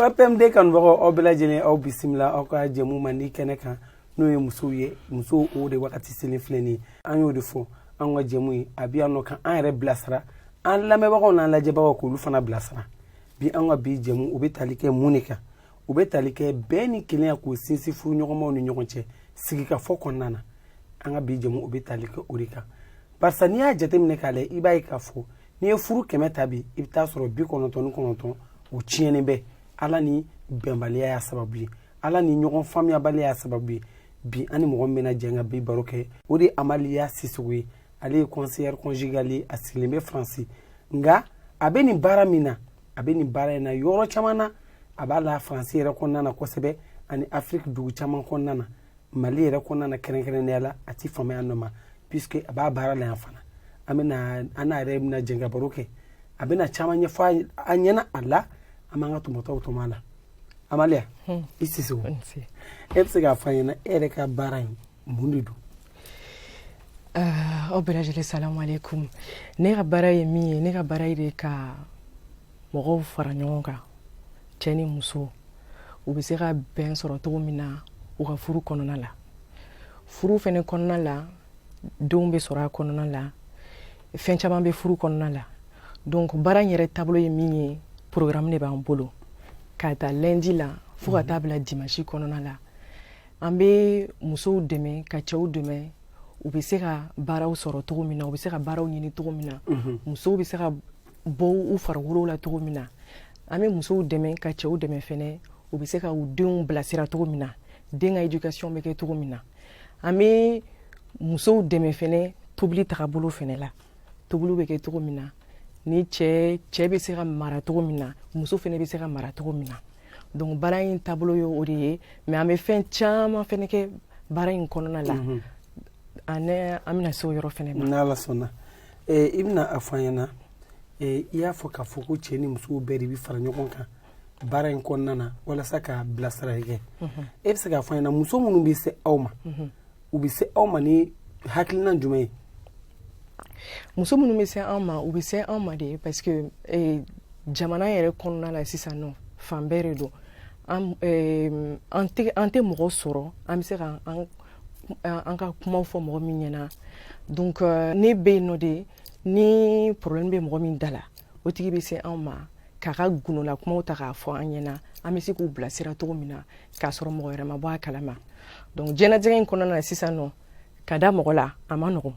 opmd kanubagaw aw bɛɛ lajɛlen aw bisimila aw ka jɛmu man di kɛnɛ kan n'o ye musow ye musow o de wagati selen filɛ nin ye an y'o de fɔ an ka jɛmu ye a bɛ yan nɔ ka an yɛrɛ bilasira an lamɛnbagaw n'an lajɛbagaw k'olu fana bilasira bi an ka bi jɛmu u bɛ tali kɛ mun de kan u bɛ tali kɛ bɛn ni kelenya k'o sinsin furu ɲɔgɔnmaw ni ɲɔgɔn cɛ sigikafɔ kɔnɔna na an ka bi jɛmu u bɛ tali kɛ o de kan barisa n'i y'a jateminɛ k'a lajɛ i b'a ye k'a fɔ n'i ye furu kɛmɛ ta bi i bɛ taa sɔrɔ bi kɔnɔntɔn ni kɔnɔntɔn o tiɲɛnen bɛ ala ni bɛnbaliya y'a sababu ye ala ni ɲɔgɔn faamuyabaliya y'a sababu ye bi an ni mɔgɔ min bɛna jɛn ka bi baro kɛ o de ye amaliya sisogo ye ale ye conseillère conjugale ye a sigilen bɛ faransi nka a bɛ nin baara min na a bɛ nin baara in na yɔrɔ caman na a b'a la faransi yɛrɛ kɔnɔna na kosɛbɛ ani afiriki dugu caman kɔnɔna na mali yɛrɛ kɔnɔna na kɛrɛnkɛrɛnnenya la a ti fama yan nɔ ma puisque a b'a baara la yan fana an bɛna an n'a yɛrɛ bɛna jɛn ka baro kɛ a bɛna caman ɲɛfɔ an ɲɛna a la an b'an ka tɔmɔtaw tɔmɔ a la amaliya hmm. i sisogo e bɛ se k'a fɔ an ɲɛna e yɛrɛ ka baara in mun de don ah, aw bɛɛ lajɛlen salamu aleykum ne ka baara ye min ye ne ka baara ye de ka mɔgɔw fara ɲɔgɔn kan cɛ ni muso u bɛ se ka bɛn sɔrɔ cogo min na u ka furu kɔnɔna la furu fɛnɛ kɔnɔna la denw bɛ sɔrɔ a kɔnɔna la fɛn caman bɛ furu kɔnɔna la donc baara in yɛrɛ taabolo ye min ye programme de b'an bolo ka ta lundi la fo ka taa bila dimanche kɔnɔna la an bɛ musow dɛmɛ ka cɛw dɛmɛ u bɛ se ka baaraw sɔrɔ cogo min na u bɛ se ka baaraw ɲini cogo min na mhm. musow bɛ se ka bɔ u farikolow la cogo min na an bɛ musow dɛmɛ ka cɛw dɛmɛ fɛnɛ u bɛ se ka u denw bilasira cogo min na den ka éducation bɛ kɛ cogo min na an bɛ musow dɛmɛ fɛnɛ tobili tagabolo fɛnɛ la tobili bɛ kɛ cogo min na ni cɛ cɛ bɛ se ka mara cogo min na muso fɛnɛ bɛ se ka mara cogo min na donc baara in taabolo ye o de ye mais an bɛ fɛn caman fɛnɛ kɛ baara in kɔnɔna la mhm. ani an bɛna se o yɔrɔ fɛnɛ ma n'ala sɔnna eh, i bɛna a fɔ an ɲɛna eh, i y'a fɔ k'a fɔ ko cɛ ni musow bɛɛ de bɛ fara ɲɔgɔn kan baara in kɔnɔna na walasa ka bilasirali kɛ mhm. e bɛ se k'a fɔ an ɲɛna muso minnu bɛ se aw ma mhm. u bɛ se aw ma ni hakilinan jumɛn ye muso minnu bɛ se an ma u bɛ se an ma de parce que eh, jamana yɛrɛ kɔnɔna la sisan nɔ fan bɛɛ de don an eh, tɛ mɔgɔ sɔrɔ an bɛ se ka an ka kumaw fɔ mɔgɔ min ɲɛna donc euh, ne bɛ yen nɔ de ni problème bɛ mɔgɔ min da la o tigi bɛ se an ma k'a ka gundola kumaw ta k'a fɔ an ɲɛna an bɛ se k'u bilasira cogo min na k'a sɔrɔ mɔgɔ wɛrɛ ma bɔ a kalama donc diɲɛnatigɛ in kɔnɔna na sisan nɔ ka da mɔgɔ la a ma nɔgɔn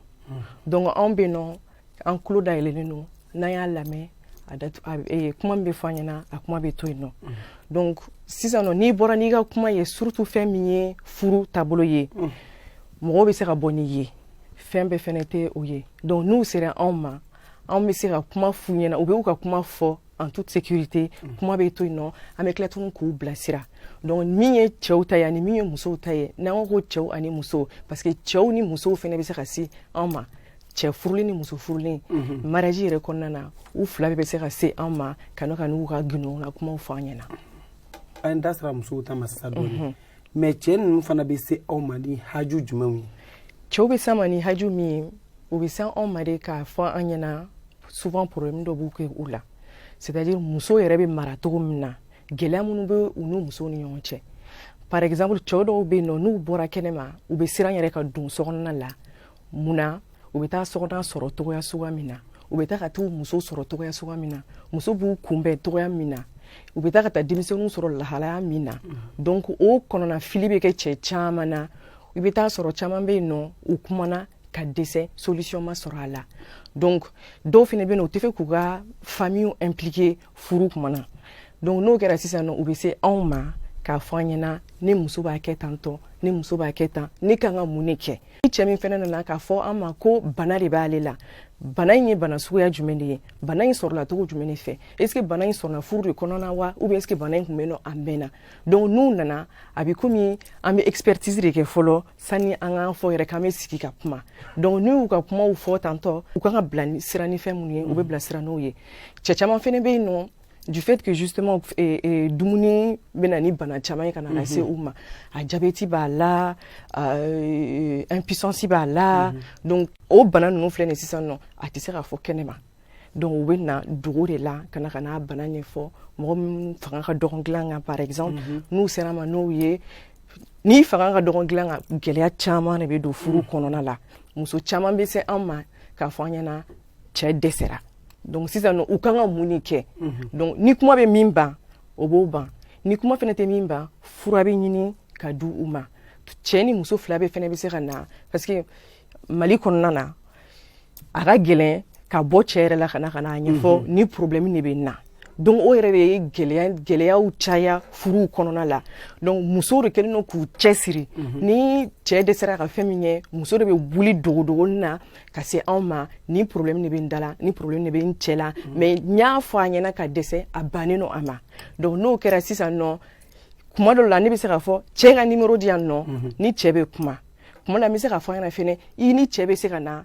donc anw bɛ yen nɔ an tulo dayɛlɛlen don n'an y'a lamɛn a datu a e, kuma min bɛ fɔ an ɲɛna a kuma bɛ to yen nɔ donc sisan nɔ n'i bɔra n'i ka kuma ye surtout fɛn min ye furu taabolo ye mɔgɔw bɛ se ka bɔ n'i ye fɛn bɛɛ fɛnɛ tɛ o ye donc n'u sera anw ma anw bɛ se ka kuma f'u ɲɛna u bɛ u ka kuma fɔ en toute sécurité mm. kuma bɛ to yen nɔ an bɛ tila tuguni k'u bilasira donc min ye cɛw ta ye ani min ye musow ta ye n'an ko ko cɛw ani musow parce que cɛw ni musow fana bɛ se ka se an ma cɛ furulen ni muso furulen mhm. mariage yɛrɛ kɔnɔna na u fila bɛɛ bɛ se ka se an ma ka n'o ka n'u ka gundola kumaw fɔ an ɲɛna an da sera musow ta ma sisan dɔɔni mhm. mais cɛ ninnu fana bɛ se aw ma ni haju jumɛnw ye cɛw bɛ s'an ma ni haju min ye u bɛ se anw ma de k'a fɔ an ɲɛna souvent problème dɔ bɛ kɛ u la c'est à dire muso yɛrɛ bɛ mara cogo min na gɛlɛya minnu bɛ u n'u musow ni ɲɔgɔn cɛ par exemple cɛw dɔw bɛ yen nɔ n'u bɔra kɛnɛma u bɛ siran yɛrɛ ka don sokɔnɔna la mun na u bɛ taa sokɔnɔna sɔrɔ cogoya suguya min na u bɛ taa ka taa muso sɔrɔ cogoya suguya min na muso b'u kunbɛn cogoya min na u bɛ taa ka taa denmisɛnninw sɔrɔ lahalaya min na donc o kɔnɔnafili bɛ kɛ cɛ caman na i bɛ taa sɔrɔ caman bɛ yen nɔ u kumana ka dɛsɛ solution ma sɔrɔ a la donc dɔw fana bɛ yen nɔ u t'a fɛ k'u ka famille impliquer furu kuma na donc n'o kɛra sisan nɔ u bɛ se anw ma k'a fɔ an ɲɛna ne muso b'a kɛ tan tɔ ne muso b'a kɛ tan ne kan ka mun de kɛ ni cɛ min fana nana k'a fɔ an ma ko bana de b'ale la bana in ye bana suguya jumɛn de ye bana in sɔrɔla cogo jumɛn de fɛ est ce que bana in sɔrɔla furu de kɔnɔna wa ou bien est ce que bana in tun bɛ yen nɔ a mɛnna donc n'u nana a bɛ komi an bɛ expertise de kɛ fɔlɔ sani an k'a fɔ yɛrɛ k'an bɛ sigi ka kuma donc n'u y'u ka kumaw fɔ tantɔ u kan ka bilasira ni fɛn minnu ye u bɛ bilasira n'o ye cɛ caman fana bɛ yen nɔ du fait que justement et, et dumuni bɛ na ni bana caman ye ka na mhm. lase u ma a jabɛti b'a la euh, impuissance b'a la mhm. donc o bana ninnu filɛ nin sisan nɔ a tɛ se ka fɔ kɛnɛma donc u bɛ na dogo de la ka na ka n'a bana ɲɛfɔ mɔgɔ min fanga ka dɔgɔn dilan kan par exemple mhm. n'u sera an ma n'o ye n'i fanga ka dɔgɔn dilan kan gɛlɛya caman de bɛ don furu kɔnɔna la muso caman bɛ se an ma k'a fɔ an ɲɛna cɛ dɛsɛra donc sisan nɔ u kan ka mun de kɛ mhm. donc ni kuma bɛ min ban o b'o ban ni kuma fɛnɛ tɛ min ban fura bɛ ɲini ka di u ma cɛ ni muso fila bɛɛ fɛnɛ bɛ se ka na parce que Mali kɔnɔna na a ka gɛlɛn ka bɔ cɛ yɛrɛ la ka na ka na a ɲɛfɔ mhm. ni problème de bɛ n na donc o yɛrɛ de ye gɛlɛya gɛlɛyaw caya furuw kɔnɔna la donc musow de kɛlen don k'u cɛsiri mhm. ni cɛ dɛsɛra ka fɛn min kɛ muso de bɛ wuli dogodogonin na ka se anw ma ni problème de bɛ n da la ni problème de bɛ n cɛ la mm. mais n y'a fɔ a ɲɛna ka dɛsɛ a bannen don a ma donc n'o kɛra sisan nɔ kuma dɔ la ne bɛ se k'a fɔ cɛ ka numéro di yan nɔ mm-hmm. ni cɛ bɛ kuma kuma la n bɛ se k'a fɔ a ɲɛna fɛnɛ i ni cɛ bɛ se ka na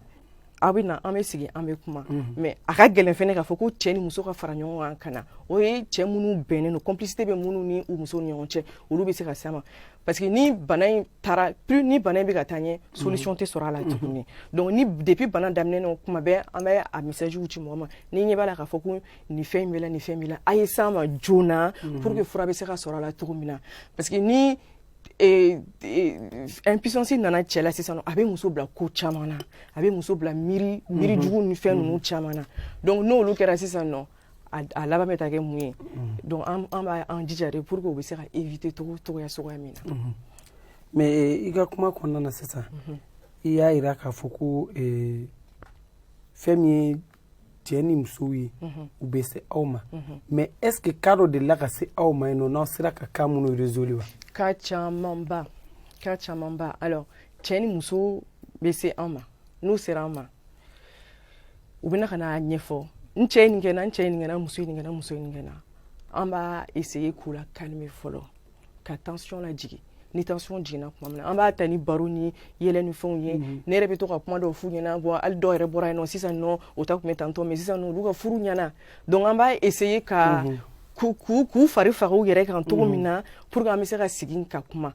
aw bɛ na an bɛ sigi an bɛ kuma mm-hmm. mais a ka gɛlɛn fɛnɛ k'a fɔ ko cɛ ni muso ka fara ɲɔgɔn kan ka na o ye cɛ minnu bɛnnen don complicité bɛ minnu ni u musow ni ɲɔgɔn cɛ olu bɛ se ka s'an ma Parce que ni bana in taara plus ni bana in bɛ ka taa ɲɛ solution tɛ sɔrɔ a la tuguni donc ni depuis bana daminɛ na kuma bɛɛ an bɛ a message ci mɔgɔ ma n'i ɲɛ b'a la k'a fɔ ko nin fɛn in b'i la nin fɛn b'i la a ye s'an ma joona pour que fura bɛ se ka sɔrɔ a la cogo min na parce que ni eh, eh, impuissance nana cɛ la sisan a bɛ muso bila ko caman na a bɛ muso bila miiri miiri jugu ni fɛn ninnu caman na donc n'olu kɛra sisan nɔ a laban bɛ taa kɛ mun ye donc an b'an jija de pour que u bɛ se ka éviter cogo cogoya suguya min na mais eh, i ka kuma kɔnɔna na sisan i y'a jira k'a fɔ ko eh, fɛn min ye cɛ ni musow ye u bɛ se aw ma mais est ce que cas dɔ delila ka se aw ma yen nɔ n'aw sera ka cas minnu résolu wa cas camanba cas camanba alors cɛ ni muso bɛ se an ma n'u sera an ma u bɛ na ka n'a ɲɛfɔ n cɛ ye nin kɛ n na n cɛ ye nin kɛ n na muso ye nin kɛ n na muso ye nin kɛ n na an b'a essayer k'u la calmer fɔlɔ ka tension lajigin ni tension jiginna tuma min na an b'a ta ni baro ni yɛlɛ ni fɛnw ye mhm. ne yɛrɛ bɛ to ka kuma dɔw f'u ɲɛna bɔ hali dɔw yɛrɛ bɔra yen nɔ sisan nɔ o ta tun bɛ tantɔ mais sisan nɔ olu ka furu ɲɛna donc an b'a essayer ka mhm. k'u fari faga u yɛrɛ kan cogo min mhm. na pour que an bɛ se ka sigi ka kuma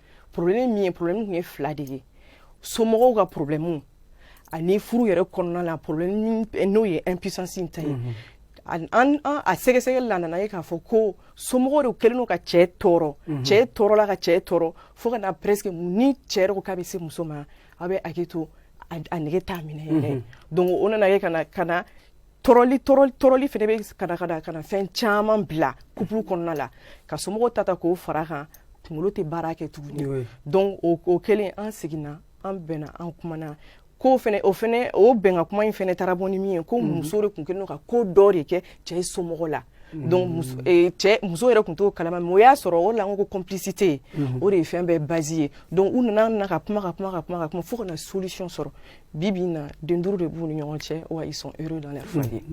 problème min ye problème tun ye fila de ye somɔgɔw ka problème ani furu yɛrɛ kɔnɔna la problème n'o ye impuissance in ta ye mhm. an an a sɛgɛsɛgɛli la nan'a ye k'a fɔ ko somɔgɔw de kɛlen don ka cɛ tɔɔrɔ mhm. cɛ tɔɔrɔla ka cɛ tɔɔrɔ fo ka na presque ni cɛ yɛrɛ ko k'a bɛ se muso ma a bɛ hakili to a nege t'a minɛ yɛrɛ mhm. donc o nana ye ka na ka na tɔɔrɔli tɔɔrɔli tɔɔrɔli fɛnɛ bɛ ka na ka na ka na fɛn caman bila couple kɔnɔna la ka somɔgɔw ta ta k'o fara kan kunkolo tɛ baara kɛ tuguni donc o o kɛlen an seginna an bɛnna an kumana ko fɛnɛ o fɛnɛ o bɛnkan kuma in fɛnɛ taara bɔ ni min ye ko mhm. muso de tun kɛlen don ka ko dɔ de kɛ cɛ somɔgɔ la mhm. donc muso eh, cɛ muso yɛrɛ tun t'o kalama mais o y'a sɔrɔ o de la n ko complicité mhm. o de ye fɛn bɛɛ base ye donc u nana na ka kuma ka kuma ka kuma ka kuma fo ka na solution sɔrɔ Bi bi in na den duuru de b'u ni ɲɔgɔn cɛ wa ils sont heureux dans leur foyer.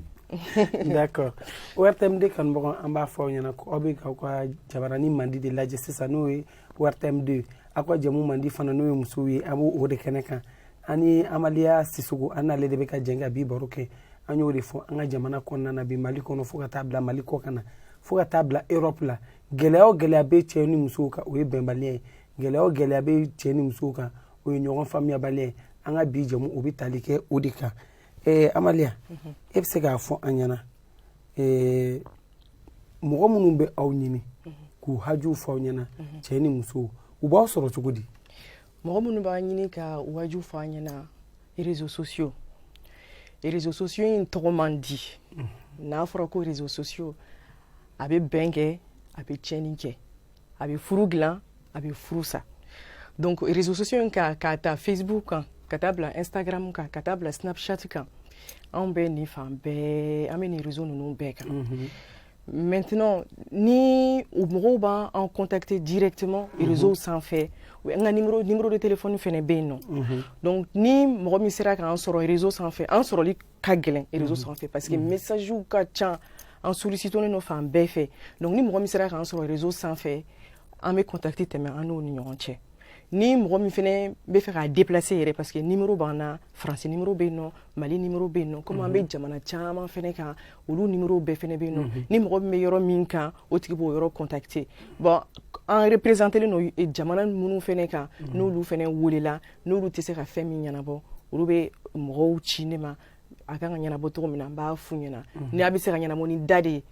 D'accord. ORTM deux kanubagaw an b'a fɔ aw ɲɛna ko aw bɛ k'aw ka jabarani mandi de lajɛ sisan n'o ye ORTM deux aw ka jamu mandi fana n'o ye musow ye a b'o de kɛnɛ kan an ni Amaliya Sisoko an n'ale de bɛ ka jɛ ka bi baro kɛ an y'o de fɔ an ka jamana kɔnɔna na bi Mali kɔnɔ fo ka taa bila Mali kɔ kan na fo ka taa bila Europe la gɛlɛya o gɛlɛya bɛ cɛ ni musow kan o ye bɛnbaliya ye gɛlɛya o gɛlɛya bɛ cɛ ni musow kan o ye ɲɔgɔn faamuyabaliya ye an ka bi jɛmu o bɛ tali kɛ o de kan ɛɛ amaliya mhm. e bɛ se k'a fɔ an ɲɛna ɛɛ mɔgɔ minnu bɛ aw ɲini mhm. k'u hajuw fɔ aw ɲɛna mhm. cɛ ni muso u b'aw sɔrɔ cogo di mɔgɔ minnu b'a ɲini ka u hajuw fɔ an ɲɛna réseaux sociaux réseaux sociaux in tɔgɔ man di n'a fɔra ko réseaux sociaux a bɛ bɛn kɛ a bɛ tiɲɛni kɛ a bɛ furu dilan a bɛ furu sa donc réseaux sociaux in kan k'a ta facebook kan ka taa bila instagram kan ka taa bila snapchat kan anw bɛ nin fan bɛɛ an bɛ nin réseau ninnu bɛɛ kan mhm. maintenant ni mɔgɔw b'an contacter directement mhm. réseau sanfɛ n ka numéro numéro de téléphone fɛnɛ bɛ yen nɔ mhm. donc ni mɔgɔ min sera k'an sɔrɔ réseau sanfɛ an sɔrɔli ka gɛlɛn réseau sanfɛ parce que messagew ka ca an sollicitelen don fan bɛɛ fɛ donc ni mɔgɔ min sera k'an sɔrɔ réseau sanfɛ an bɛ contact tɛmɛ an n'o ni ɲɔgɔn cɛ ni mɔgɔ min fɛnɛ bɛ fɛ k'a déplacer yɛrɛ parce que numéro b'an na France numéro bɛ yen nɔ Mali numéro bɛ yen nɔ comme an bɛ jamana caman fɛnɛ kan olu numéro bɛɛ fɛnɛ bɛ yen nɔ ni mɔgɔ min bɛ yɔrɔ min kan o tigi b'o yɔrɔ contacter bon an représentelen don jamana minnu fɛnɛ kan n'olu fɛnɛ welela n'olu tɛ se ka fɛn min ɲɛnabɔ olu bɛ mɔgɔw ci ne ma a kan ka ɲɛnabɔ cogo min na n b'a f'u ɲɛna mhm. n'a bɛ se ka ɲɛnabɔ ni da de ye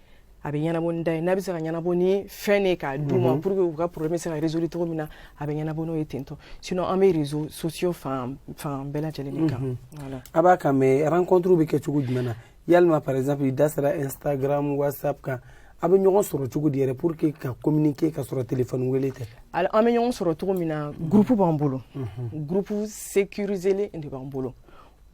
a bɛ ɲɛnabɔ ni da ye n'a bɛ se ka ɲɛnabɔ ni fɛn de ye k'a d'u ma mhm. pour que u ka problème se ka résoudre cogo min na a bɛ ɲɛnabɔ n'o ye ten tɔ sinon an bɛ réseaux sociaux fan fan bɛɛ lajɛlen de kan mhm. voilà a b'a kan mais rencontre bɛ kɛ cogo jumɛn na yalima par exemple i da sera instagram whatsapp kan a bɛ ɲɔgɔn sɔrɔ cogo di yɛrɛ pour que ka communiquer ka sɔrɔ téléphone wele tɛ alors an bɛ ɲɔgɔn sɔrɔ cogo min na groupe b'an bolo groupe sécuriselen de b'an bolo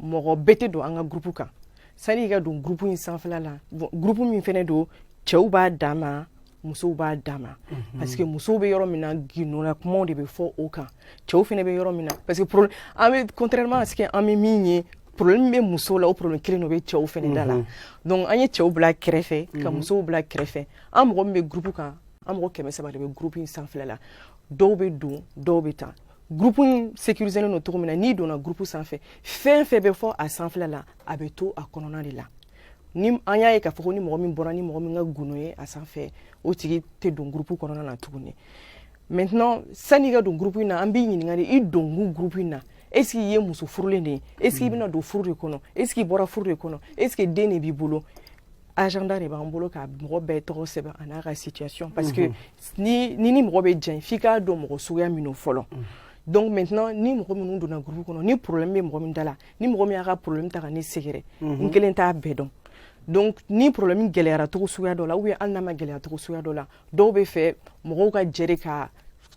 mɔgɔ bɛɛ tɛ don an ka groupe kan sani i ka don groupe in sanfɛla la bon groupe min fɛnɛ don cɛw b'a dan ma musow b'a dan ma mhm. parce que musow bɛ yɔrɔ min na gindola kumaw de bɛ fɔ o kan cɛw fɛnɛ bɛ yɔrɔ min na parce que problème an bɛ contrairement à ce que an bɛ min ye problème bɛ musow la o problème kelen de bɛ cɛw fɛnɛ da la mhm. donc an ye cɛw bila kɛrɛfɛ ka mhm. musow bila kɛrɛfɛ an mɔgɔ min bɛ groupe kan an mɔgɔ kɛmɛ saba de bɛ groupe in sanfɛla la dɔw bɛ don dɔw bɛ taa groupe in sécurisé don cogo min na n'i donna groupe sanfɛ fɛn fɛn bɛ fɔ a sanfɛla la a bɛ to a kɔnɔna de la ni an y'a ye k'a fɔ ko ni mɔgɔ min bɔra ni mɔgɔ min ka gundo ye a sanfɛ o tigi tɛ don groupe kɔnɔna na tuguni maintenant sani i ka don groupe in na an b'i ɲininka de i donkun groupe in na est ce que i ye muso furulen de ye est ce que i bɛna don furu de kɔnɔ est ce que i bɔra furu de kɔnɔ est ce que den de b'i bolo agenda de b'an bolo ka mɔgɔ bɛɛ tɔgɔ sɛbɛn a n'a ka situation parce que ni ni mɔgɔ bɛ jɛn f'i k'a dɔn mɔgɔ suguya min don fɔlɔ donc maintenant ni mɔgɔ minnu donna groupe kɔnɔ ni problème bɛ mɔgɔ min da la ni mɔgɔ min y'a ka problème ta ka ne sɛgɛrɛ n kelen t'a bɛɛ dɔn donc ni problème gɛlɛyara cogo suguya dɔ la ou bien hali n'a ma gɛlɛya cogo suguya dɔ la dɔw b'a fɛ mɔgɔw ka jɛ ka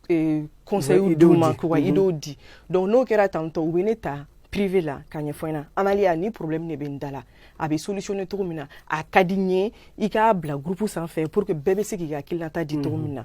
eh, conseil d'u ma k'u ka idéew di donc n'o kɛra tantôt u bɛ ne ta privé la k'a ɲɛfɔ n ɲɛna Amalia ni problème de bɛ n da la a bɛ solutionner cogo min na a ka di n ye i k'a bila groupe sanfɛ pour que bɛɛ bɛ se k'i ka hakilinata di cogo min na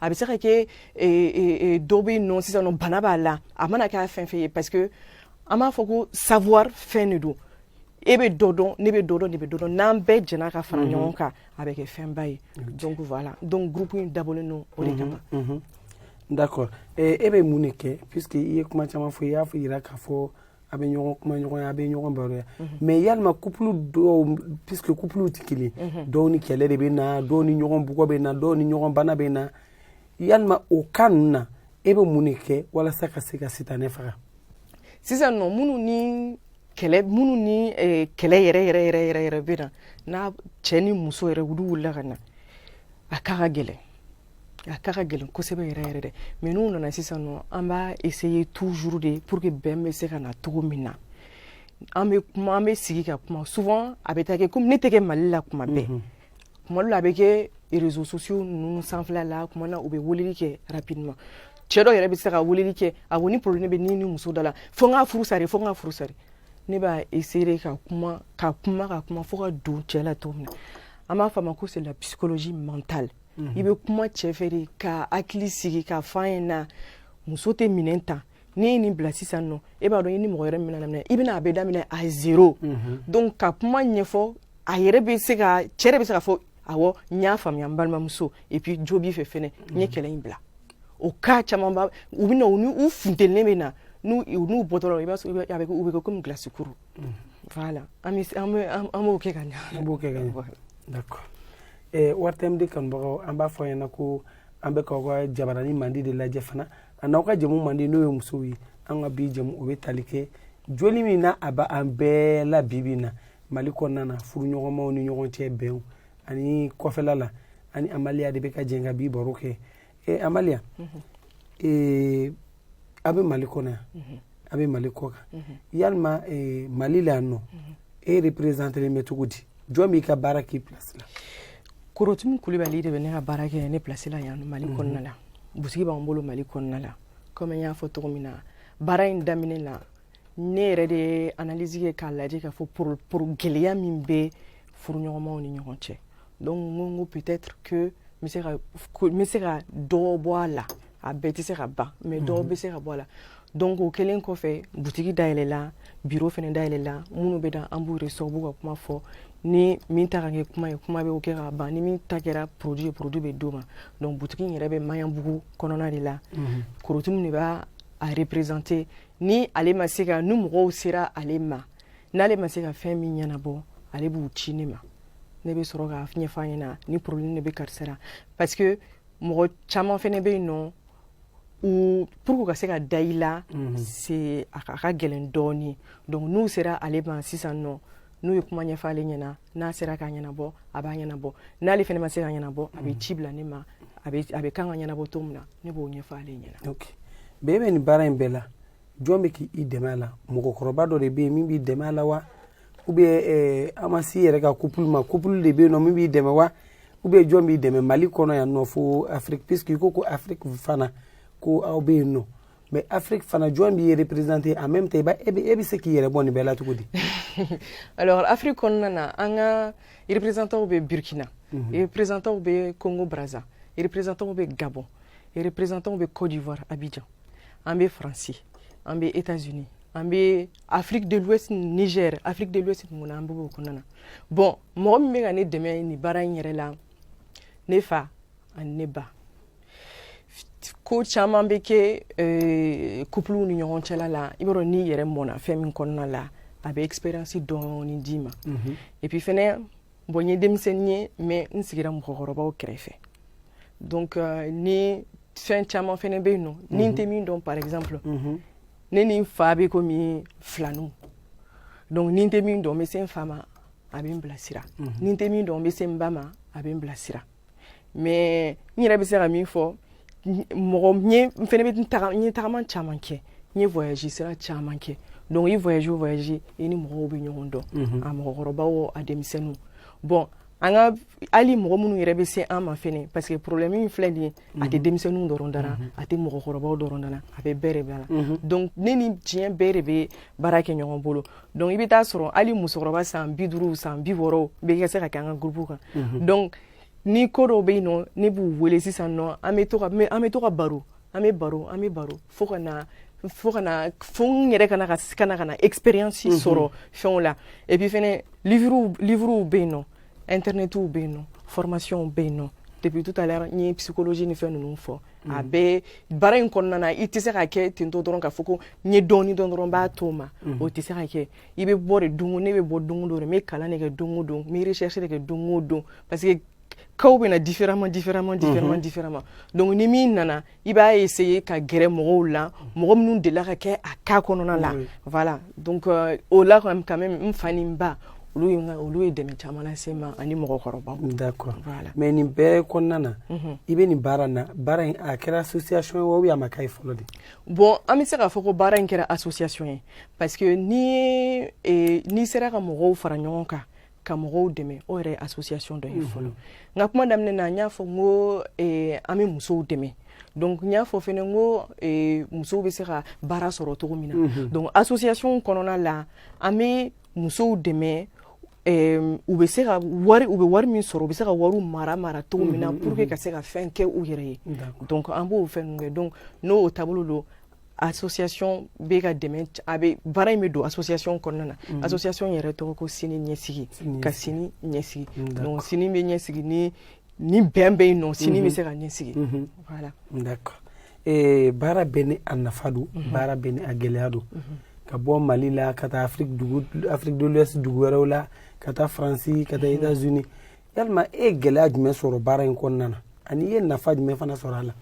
a bɛ se ka kɛ dɔ bɛ yen nɔ sisan nɔ bana b'a la a mana kɛ fɛn fɛn ye parce que an b'a fɔ ko savoir fɛn de don e bɛ dɔ dɔn ne bɛ dɔ dɔn ne bɛ dɔ dɔn n'an bɛɛ jɛna ka fara ɲɔgɔn kan a bɛ kɛ fɛnba ye donc voilà donc groupe in dabɔlen don o de kama d'accord e bɛ mun de kɛ puisque i ye kuma caman fɔ i y'a fɔ jira k'a fɔ a bɛ ɲɔgɔn kumaɲɔgɔnya a bɛ ɲɔgɔn baroya mhm. mais yalima couple dɔw puisque couplew tɛ kelen mhm. dɔw ni kɛlɛ de bɛ na dɔw ni ɲɔgɔn bugɔ bɛ na dɔw ni ɲɔgɔn bana bɛ na yalima o cas ninnu na e bɛ mun de kɛ walasa ka se ka sitanɛ faga sisan nɔ minnu ni kɛlɛ minnu ni eh, kɛlɛ yɛrɛ yɛrɛ yɛrɛ yɛrɛ yɛrɛ bɛ na n'a cɛ ni muso yɛrɛ olu wulila ka na a k'a ka gɛlɛn a ka ka gɛlɛn kosɛbɛ yɛrɛ yɛrɛ dɛ mais n'u nana sisan nɔ an b'a essayer toujours de pour que bɛn bɛ se ka na cogo min na an bɛ kuma an bɛ sigi ka kuma souvent a bɛ taa kɛ comme ne tɛ kɛ Mali la kuma bɛɛ mhm. kuma dɔ la a bɛ kɛ réseaux sociaux ninnu sanfɛla la kuma na u bɛ weleli kɛ rapidement cɛ dɔ yɛrɛ bɛ se ka weleli kɛ a ko ni problème bɛ ni ni muso da la fo n k'a furu sari fo n k'a furu sari ne b'a essayer ka kuma ka kuma ka kuma fo ka don cɛ la cogo min na an b'a fɔ a ma ko c'est la psychologie mentale i bɛ kuma cɛ fɛ de k'a hakili sigi k'a fɔ a ɲɛna muso tɛ minɛ tan n'i ye nin bila sisan nɔ e b'a dɔn i ni mɔgɔ wɛrɛ mana daminɛ i bɛna a bɛɛ daminɛ à zéro mhm. donc ka kuma ɲɛfɔ a yɛrɛ bɛ se ka cɛ de bɛ se k'a fɔ awɔ n y'a faamuya n balimamuso et puis jo b'i fɛ fɛnɛ n ye mhm. kɛlɛ in bila o cas camanba u bɛ na u ni u funtenilen bɛ na n'u n'u bɔtɔ la i b'a sɔrɔ a bɛ u bɛ kɛ comme glace kuru An b'o kɛ ka an b'o kɛ ka ɲɛ Ouverture Média kanubagaw an b'a fɔ aw ɲɛna ko an bɛ k'aw ka jabaranin mandi de lajɛ fana a n'aw ka jɛmu mandi n'o ye musow ye an ka bi jɛmu o bɛ tali kɛ joli min na a b'an bɛɛ la bi bi na Mali kɔnɔna na furuɲɔgɔnmaw ni ɲɔgɔn cɛ bɛn ani kɔfɛla la an ni Amalia de bɛ ka jɛ ka bi baro kɛ ee Ama a bɛ mali kɔnɔ yan mhm. a bɛ mali kɔ kan mhm. yalima eh, mali la yan nɔ mhm. e représentelen bɛ cogo di jɔn b'i ka baara k'i place la korotumu kulibali de bɛ ne ka baara kɛ ne place la yan mali kɔnɔna la butigi b'an bolo mali kɔnɔna la comme n y'a fɔ cogo min na baara in daminɛ la ne yɛrɛ de ye analyse kɛ k'a lajɛ k'a fɔ pour pour gɛlɛya min bɛ furuɲɔgɔnmaw ni ɲɔgɔn cɛ donc n ko peut-être que n bɛ se ka n bɛ se ka dɔ bɔ a la a bɛɛ tɛ se ka ban mais dɔw bɛ se ka bɔ a la donc o kɛlen kɔfɛ butigi dayɛlɛla bureau fɛnɛ dayɛlɛla minnu bɛ na an b'u reçoit u b'u ka kuma fɔ ni min ta kɛ kuma ye kuma bɛ kɛ ka ban ni min ta kɛra produit produit bɛ d'o ma donc butigi in yɛrɛ bɛ maɲanbugu kɔnɔna de la korotumu de b'a représenter ni ale ma se ka ni mɔgɔw sera ale ma n'ale ma se ka fɛn min ɲɛnabɔ ale b'u ci ne ma ne bɛ sɔrɔ k'a ɲɛfɔ a ɲɛna ni problème de bɛ karisa la pa mɔgɔ caman fɛnɛ bɛ yen nɔ pour que u ka se ka da i la mhm. c'est a ka gɛlɛn dɔɔni donc n'u sera ale ma sisan nɔ n'u ye kuma ɲɛfɔ ale ɲɛna n'a sera k'a ɲɛnabɔ a b'a ɲɛnabɔ n'ale fɛnɛ ma se k'a ɲɛnabɔ a bɛ mhm. ci bila ne ma a bɛ kan ka ɲɛnabɔ cogo min na ne b'o ɲɛfɔ ale ɲɛna ok bɛɛ bɛ nin baara in bɛɛ la jɔn bɛ k'i dɛmɛ a la mɔgɔkɔrɔba dɔ de bɛ yen min b'i dɛmɛ a la wa ou bien eh, an ma si yɛrɛ ka couple ma couple de bɛ yen nɔ min b'i dɛmɛ wa ou bien jɔn b'i dɛmɛ mali kɔnɔ yan nɔ fo afrique puisque i ko ko afrique fana ko aw bɛ yen nɔ mais afrique fana jɔn b'i représenter en même temps i b'a e bɛ e bɛ se k'i yɛrɛ bɔ nin bɛɛ la cogo di. alors afrique kɔnɔna na an ka représentants bɛ burkina. Mhm. représentants bɛ congo brazza représentants bɛ gabon représentants bɛ côte d'ivoire abidjan an bɛ france an bɛ états unis an bɛ Afrique de l'Ouest Niger Afrique de l'Ouest mumɛ an bɛ o kɔnɔna na bon mɔgɔ min bɛ ka ne dɛmɛ nin baara in yɛrɛ la ne fa ani ne ba ko caman bɛ kɛ euh, couple ni ɲɔgɔn cɛla la i b'a dɔn n'i yɛrɛ mɔna fɛn min kɔnɔna la a bɛ expérience dɔɔni d'i ma mhm. et puis fɛnɛ bon n ye denmisɛnnin ye mais n sigira mɔgɔkɔrɔbaw kɛrɛfɛ donc euh, ni fɛn caman fɛnɛ bɛ yen nɔ ni n tɛ min dɔn par exemple mhm. ne ni n fa bɛ komi filaninw donc ni n tɛ min dɔn n bɛ se n fa ma a bɛ n bilasira mhm. ni n tɛ min dɔn n bɛ se n ba ma a bɛ n bilasira mais n yɛrɛ bɛ se ka min fɔ mɔgɔ ye n fɛnɛ bɛ taga n ye tagama caman kɛ n ye voyage sira caman kɛ donc i voyage o voyage i ni mɔgɔw bɛ ɲɔgɔn dɔn mhm. a mɔgɔkɔrɔbaw o a denmisɛnninw bon an ka hali mɔgɔ minnu yɛrɛ bɛ se an ma fɛnɛ parce que problème in filɛ nin ye a tɛ denmisɛnninw dɔrɔn da la mhm. a tɛ mɔgɔkɔrɔbaw dɔrɔn da la a bɛ bɛɛ de da la mhm. donc ne ni diɲɛ bɛɛ de bɛ baara kɛ ɲɔgɔn bolo donc i bɛ t'a sɔrɔ hali musokɔrɔba san bi duuru san bi wɔɔrɔ bɛ ka se ka kɛ an ka groupe kan mhm. donc ni ko dɔw bɛ yen nɔ ne b'u wele sisan nɔ an bɛ to ka an bɛ to ka baro an bɛ baro an bɛ baro fo ka na fo ka na fo n yɛrɛ ka na ka ka na ka na expérience sɔrɔ fɛnw la et puis fɛnɛ livres livres bɛ yen nɔ internetw bɛ yen nɔ formation bɛ yen nɔ depuis tout à l'heure n ye psychologie ni fɛn ninnu fɔ mm. a bɛ baara in kɔnɔna na i tɛ se ka kɛ tentɔ dɔrɔn k'a fɔ ko n ye dɔɔni dɔn dɔrɔn n b'a to o ma mm. o tɛ se ka kɛ i bɛ bɔ de don o ne bɛ bɔ don o don de n bɛ kalan de kɛ don o don n bɛ recherche de kɛ don o don parce que casw bɛ na différemment différemment différemment mm-hmm. différemment donc ni min nana i b'a essayer ka gɛrɛ mɔgɔw la mɔgɔ minnu delila ka kɛ a cas kɔnɔna la voilà donc euh, o la quand même n fa ni n ba olu ye olu ye dɛmɛ caman lase n ma ani mɔgɔkɔrɔbaw d'accord voilà mais nin bɛɛ kɔnɔna na mhm. i bɛ nin baara na baara in a kɛra association ye wa ou a ma k'a ye fɔlɔ de bon an bɛ se k'a fɔ ko baara in kɛra association ye parce que ni eh, n'i sera ka mɔgɔw fara ɲɔgɔn kan ka mɔgɔw dɛmɛ o yɛrɛ association dɔ ye mhm. fɔlɔ n ka kuma daminɛ na n y'a fɔ n ko eh, an bɛ musow dɛmɛ donc n y'a fɔ fɛnɛ n ko eh, musow bɛ se ka baara sɔrɔ cogo min na mhm. donc association kɔnɔna la an bɛ musow dɛmɛ u bɛ se ka wari u bɛ wari min sɔrɔ u bɛ se ka wariw mara mara cogo min na mhm, pour que ka se ka fɛn kɛ u yɛrɛ ye donc an b'o fɛn ninnu kɛ donc n'o taabolo don association bɛ ka dɛmɛ a bɛ baara in bɛ don association kɔnɔna na mm. association yɛrɛ tɔgɔ ko sini ɲɛsigi ka sini ɲɛsigi mm, donc sini bɛ ɲɛsigi ni ni bɛn bɛ yen nɔ sini bɛ mm-hmm. se ka ɲɛsigi mm-hmm. voilà d'accord eh, baara bɛɛ ni a nafa don mm-hmm. baara bɛɛ ni a gɛlɛya don ka bɔ mali la ka taa afrique dugu afrique de l'ouest dugu wɛrɛw la ka taa faransi ka taa états unis yalima e ye gɛlɛya jumɛn sɔrɔ baara in kɔnɔna na ani i ye nafa jumɛn fana sɔrɔ a la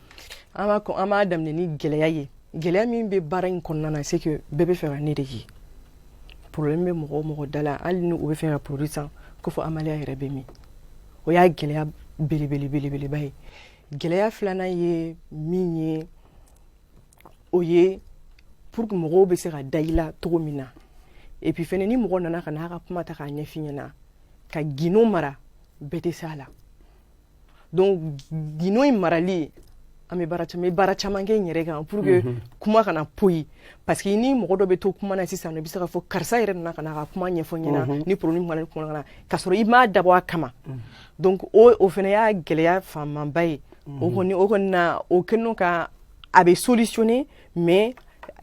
an b'a kɔn an b'a daminɛ ni gɛlɛya ye gɛlɛya min bɛ baara in kɔnɔna na c'est que bɛɛ b'a fɛ ka ne de ye problème bɛ mɔgɔ o mɔgɔ da la hali ni u b'a fɛ ka produit san ko fɔ amaliya yɛrɛ bɛ min o y'a gɛlɛya belebele belebeleba ye gɛlɛya filanan ye min ye o ye pour que mɔgɔw bɛ se ka da i la cogo min na et puis fɛnɛ ni mɔgɔ nana ka n'a ka kuma ta k'a ɲɛf'i ɲɛna ka gindo mara bɛɛ tɛ se a la donc gindo in marali an bɛ baara caman baara caman kɛ n yɛrɛ kan pour que mhm. kuma kana poyi parce que ni mɔgɔ dɔ bɛ to kuma na sisan i bɛ se k'a fɔ karisa yɛrɛ nana ka n'a ka kuma ɲɛfɔ n ɲɛna mhm. ni problème kuma kuma na ka sɔrɔ i m'a dabɔ a kama mhm. donc o o fana y'a gɛlɛya fanmanba ye o kɔni o kɔni na o kɛlen kɔ a bɛ solutionner mais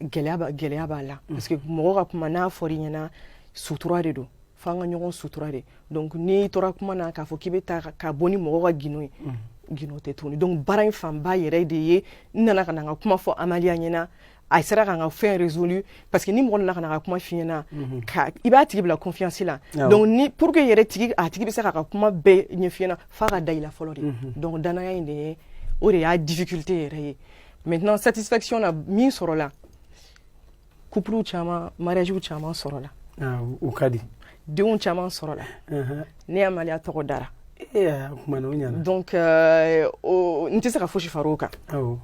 gɛlɛya b'a gɛlɛya b'a la parce que mɔgɔ ka kuma n'a fɔra i ɲɛna sutura de don fo an ka ɲɔgɔn sutura de donc n'i tora kuma na k'a fɔ k'i bɛ ta ka bɔ ni mɔgɔ ka gindo ye gindo tɛ tuguni donc baara in fanba yɛrɛ de ye n nana ka na n ka kuma fɔ amaliya ɲɛna a sera ka n ka fɛn résolu parce que ni mɔgɔ nana ka n'a ka kuma f'i ɲɛna ka i b'a tigi bila confiance la donc ni pour que yɛrɛ tigi a tigi bɛ se k'a ka kuma bɛɛ ɲɛf'i ɲɛna f'a ka da i la fɔlɔ de donc danaya in de ye o de y'a difficulté yɛrɛ ye maintenant satisfaction na min sɔrɔla couple caman mariagew caman sɔrɔla ah, o ka di denw caman sɔrɔla uh-huh. ne amaliya tɔgɔ dara donc euh, n tɛ se ka fosi far'o kan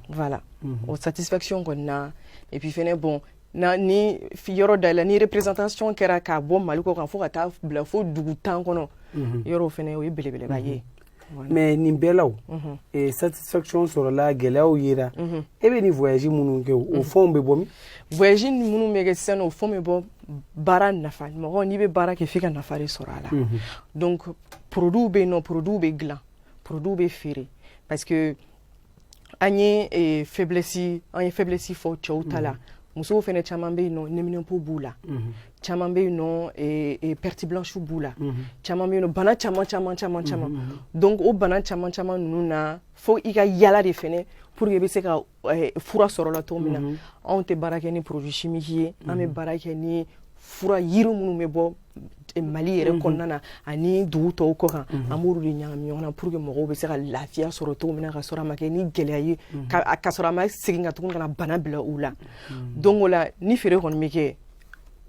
voilà mhm. o satisfaction kɔni na et puis fɛnɛ bon na ni yɔrɔ dayɛlɛ ni représentation kɛra k'a bɔ mali kɔ kan fo ka taa bila fo dugu tan kɔnɔ mhm. yɔrɔw fɛnɛ o ye belebeleba ye mhm. mais nin bɛɛ la eh, satisfaction sɔrɔla gɛlɛyaw yera e bɛ nin voyage minnu kɛ o fɛnw bɛ bɔ min voyage minnu bɛ kɛ sisan o fɛnw bɛ bɔ baara nafa mɔgɔ n'i bɛ baara kɛ f'i ka nafa de sɔrɔ a la donc produit bɛ yen nɔ produit bɛ dilan produit bɛ feere parce que an ye eh, faiblesse an ye faiblesse fɔ cɛw ta la mhm. musow fɛnɛ caman bɛ yen nɔ neminɛnpo b'u la mhm. caman bɛ yen nɔ eh, eh, perte blanche b'u la mhm. caman bɛ yen nɔ bana caman caman caman caman donc o bana caman caman ninnu na fo i ka yala de fɛnɛ pour que i bɛ se ka fura sɔrɔ la cogo min na anw tɛ baara kɛ ni produit chimique ye an bɛ baara kɛ ni fura yiri minnu bɛ bɔ mali yɛrɛ mhm. kɔnɔna na ani dugu tɔw kɔ kan mhm. an b'olu de ɲagami ɲɔgɔn na pour que mɔgɔw bɛ se ka lafiya sɔrɔ cogo min na ka sɔrɔ a ma kɛ ni gɛlɛya ye mhm. ka sɔrɔ a ma segin ka tuguni ka na bana bila u la donc o la ni feere kɔni bɛ kɛ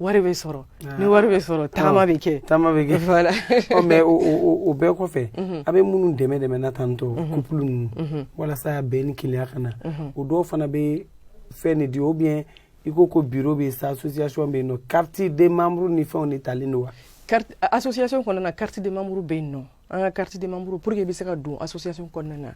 wari bɛ sɔrɔ ah. ni wari bɛ sɔrɔ tagama bɛ kɛ tagama bɛ kɛ voilà ɔ mais o o o bɛɛ kɔfɛ a bɛ minnu dɛmɛ dɛmɛ na tantôt couple ninnu walasa bɛn ni kelenya ka na o dɔw fana bɛ fɛn de di ou bien i ko ko biro bɛ sa association bɛ yen nɔ carte de membre ni fɛnw de talen don wa carte association kɔnɔna na carte de membre bɛ yen nɔ an ka carte de membre pour que i bɛ se ka don association kɔnɔna na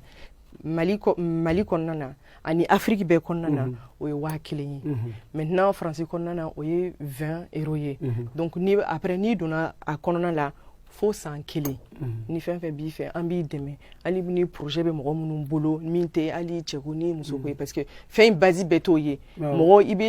mali mali kɔnɔna na ani afiriki bɛɛ kɔnɔna na mhm. o ye waa kelen ye mhm. maintenant faransi kɔnɔna na o ye 20 euro ye mhm. donc ni après n'i donna a kɔnɔna la fo san kelen mhm. ni fɛn fɛn b'i fɛ an b'i dɛmɛ hali ni projet bɛ mɔgɔ minnu bolo min tɛ hali cɛko ni musoko ye mhm. parce que fɛn in base bɛɛ t'o ye mɔgɔ i bɛ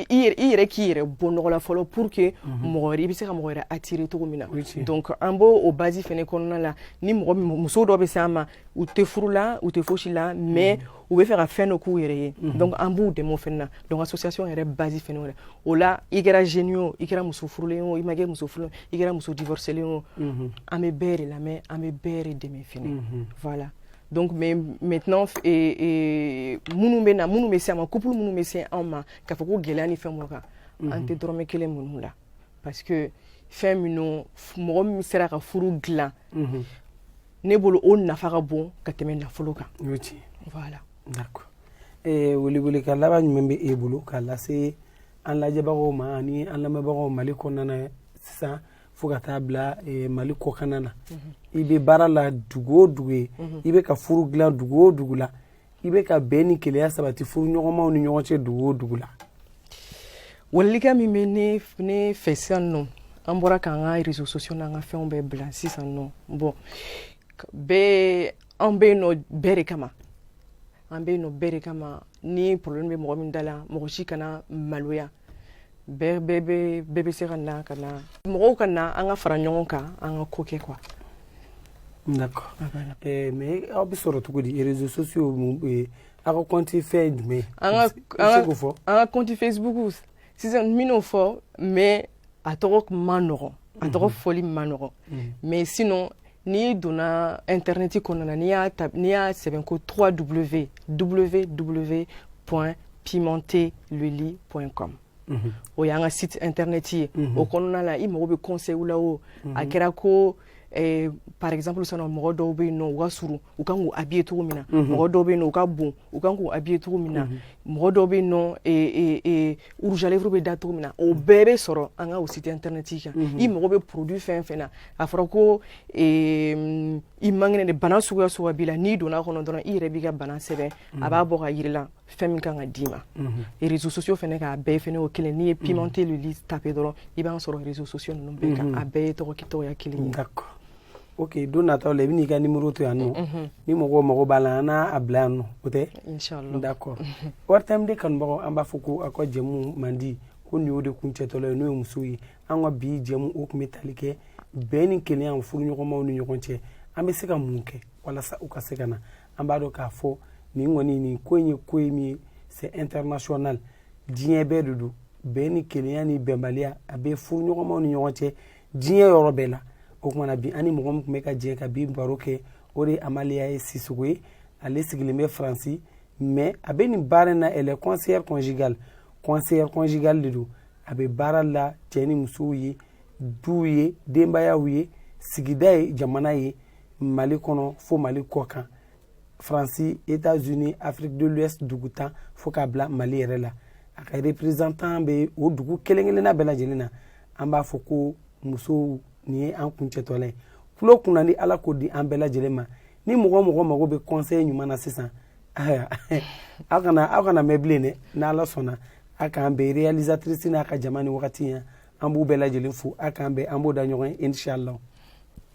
i yɛrɛ k'i yɛrɛ bɔ nɔgɔ la fɔlɔ pour que mhm. mɔgɔ wɛrɛ i bɛ se ka mɔgɔ wɛrɛ attirer cogo min na donc an b'o o base fɛnɛ kɔnɔna la ni mɔgɔ muso dɔ bɛ s'an ma u tɛ furu la u tɛ fosi la mais u bɛ fɛ ka fɛn dɔ k'u yɛrɛ ye donc an b'u dɛmɛ o fɛnɛ na donc association yɛrɛ base fɛnɛ wɛrɛ o la i kɛra jeune ye o i kɛra muso furulen o i ma kɛ muso furulen i kɛra muso divorcelen o an bɛ bɛɛ de lamɛn an bɛ bɛɛ de dɛmɛ fɛnɛ voilà donc mais maintenant minnu bɛ na minnu bɛ se an ma couple minnu bɛ se anw ma k'a fɔ ko gɛlɛya ni fɛn minnu kan an tɛ dɔrɔmɛ kelen min'u la parce que fɛn minnu mɔgɔ min sera ka furu dilan ne bolo o nafa ka bon ka tɛmɛ nafolo kan o ti voilà d'accord eh welekan laban jumɛn bɛ e bolo k'a lase an lajɛbagaw ma ani an lamɛnbagaw mali kɔnɔna na sisan fo ka taa bila eh, mali kɔkana na mhm. i bɛ baara la dugu o dugu ye mhm. i bɛ ka furu dilan dugu o dugu la i bɛ ka bɛn ni kelenya sabati furuɲɔgɔnmaw ni ɲɔgɔn cɛ dugu o dugu la welelikan min bɛ ne ne fɛ sisan nɔ an bɔra k'an ka réseaux sociaux n'an ka fɛnw bɛɛ bila sisan nɔ bon an bɛ yen nɔ bɛɛ de kama an bɛ yen nɔ bɛɛ de kama ni problème bɛ mɔgɔ min da la mɔgɔ si kana maloya bɛɛ bɛɛ bɛ bɛɛ bɛ se ka na ka na mɔgɔw ka na an ka fara ɲɔgɔn kan an ka ko kɛ quoi. d'accord eh, mais aw bɛ sɔrɔ cogo di réseaux sociaux mun bɛ aw ka compte fɛn ye jumɛn ye. an ka an ka an ka compte facebook sisan n bɛn'o fɔ mais a tɔgɔ man nɔgɔn a tɔgɔ mhm. fɔli man nɔgɔn mhm. mais sinon. n'i donna intɛrnɛti kɔnɔna na n'i y'a ta n'i y'a sɛbɛn ko 3 w www point pimenter le lit point com mhm. o y'an ka site intɛrnɛti ye mhm. o kɔnɔna na i mago bɛ conseil la o a mhm. kɛra ko eh, par exemple sisan nɔ mɔgɔ dɔw bɛ yen nɔ u ka surun u kan k'u habiller cogo min na mɔgɔ dɔw bɛ yen nɔ u ka bon u kan k'u habiller cogo min na mɔgɔ dɔw bɛ yen nɔ rouge à lèvres bɛ da cogo min na o bɛɛ bɛ sɔrɔ an ka site intɛrnɛti kan i mago bɛ produit fɛn fɛn na a fɔra ko i man kɛnɛ de bana suguya suguya b'i la n'i donna kɔnɔ dɔrɔn i yɛrɛ b'i ka bana sɛbɛn a b'a bɔ k'a jir'i la fɛn min kan ka d'i ma réseaux sociaux fɛnɛ k'a bɛɛ fɛnɛ o kelen n'i ye pimenter le lit taper dɔrɔn i b'an sɔrɔ réseaux sociaux ninnu bɛɛ kan a bɛɛ ye tɔgɔya kelen ok don nataw la i bɛna i ka nimoro to yan nɔ ni mɔgɔw mago b'a la an n'a bila yan nɔ o tɛ d'accord ouverture média kanubagaw an b'a fɔ ko aw ka jɛmu mandi ko nin y'o de kuncɛtɔla ye n'o ye musow ye an ka bi jɛmu o tun bɛ tali kɛ bɛn ni kelenya furuɲɔgɔnmaw ni ɲɔgɔn cɛ an bɛ se ka mun kɛ walasa u ka se ka na an b'a dɔn k'a fɔ nin kɔni nin ko in ye ko ye min ye c'est international diɲɛ bɛɛ de don bɛn ni kelenya ni bɛnbaliya a bɛ furuɲɔgɔnmaw ni ɲɔgɔn cɛ diɲɛ yɔrɔ bɛɛ la o kumana bi an ni mɔgɔ min tun bɛ ka jɛ ka bi baro kɛ o de ye amaliya ye sisoko ye ale sigilen bɛ faransi mais a bɛ nin baara in na elle est conseillère conjugale conseillère conjugale de don a bɛ baara la cɛ ni musow ye duw ye denbayaw ye sigida ye jamana ye mali kɔnɔ fo mali kɔ kan faransi etats unis afrique de l'ouest dugu tan fo k'a bila mali yɛrɛ la a ka représentant bɛ o dugu kelen kelenna bɛɛ lajɛlen na an b'a fɔ ko musow nin ye an kuncɛtɔla ye tulo kunnandi ala k'o di an bɛɛ lajɛlen ma ni mɔgɔ mɔgɔ mago bɛ conseil ɲuman na sisan aw kana aw kana mɛn bilen dɛ n'ala sɔnna a k'an bɛn réalisatrice n'a ka jama ni wagati yan an b'u bɛɛ lajɛlen fo a k'an bɛn an b'o da ɲɔgɔn ye inshallah